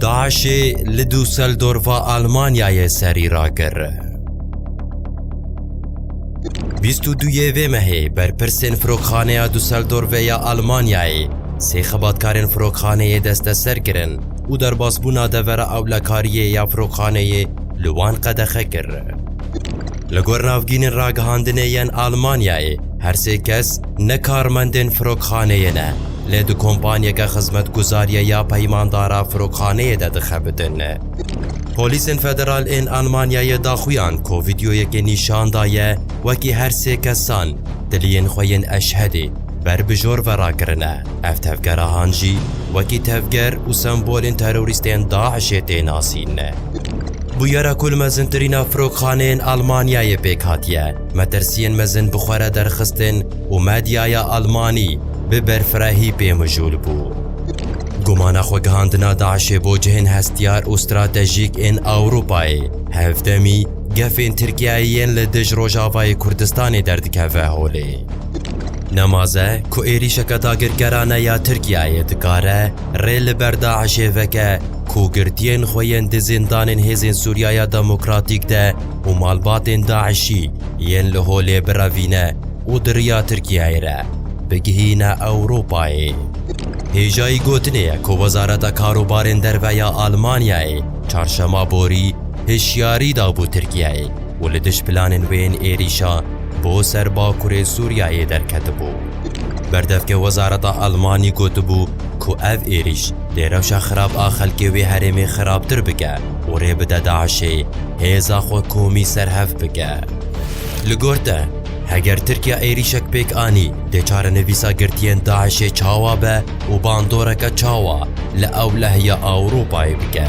DAIŞ'ê li Dûseldorfa Almanyayê serî rakir. Bîst û duyê vê mehê berpirsên Firokxaneya Dûseldorfê ya Almanyayê sê xebatkarên firokxaneyê desteser kirin û derbasbûna devera ewlekariyê ya firokxaneyê li wan qedexe kir. Li gor navgînên ragihandinê yên Almanyayê, her sê kes ne karmendên firokxaneyê ne, lê di kompanyeke xizmetguzariyê ya peymandara firokxaneyê de dixebitin. Polîsên federal ên Almanyayê daxuyan ku vîdeoyekê nîşan daye wekî her sê kesan tiliyên xwe yên Eşhedî ber bi jor ve rakirine. Ev tevgerahan jî wekî tevger û sembolên terorîstên DAIŞ'ê tê nasîn. Bûyera ku li mezintirîn a firokxaneyên Elmanyayê pêk hatiye, metirsiyên mezin bi xwe re derxistin û medyaya Elmanî bi berfirehî pê mijûl bû. Gumana xwegihandina DAIŞ'ê bo cihên hestiyar û stratejîk ên Ewropayê, hevdemî gefên Tirkiyeyê yên li dij Rojavayê Kurdistanê derdikeve holê. Nemaze ku êrîşeke dagirkerane ya Tirkiyeyê dikare rê li ber DAIŞ'ê veke, ku girtiyên xwe yên di zîndanên Hêzên Sûriyaya Demokratîk de û malbatên DAIŞ'î yên li holê birevîne û di riya Tirkiyeyê re bigihîne Ewropayê. Hêjayî gotinê ye ku Wezareta Karobarên Derve ya Almanyayê çarşema borî hişyarî dabû Tirkiyeyê û li dij planên wê yên êrîşa bo ser bakurê Sûriyeyê derketibû. Berdevkê wezareta Elmanî gotibû ku ev êrîş dê rewşa xirab a xelkê wê herêmê xirabtir bike û rê bide DAIŞ'ê hêza xwe komî serhev bike. Li gor te, heger Tirkiya êrîşek pêk anî, dê çarenivîsa girtiyên DAIŞ'ê çawa be û bandoreke çawa li ewleh ya Ewropayê bike.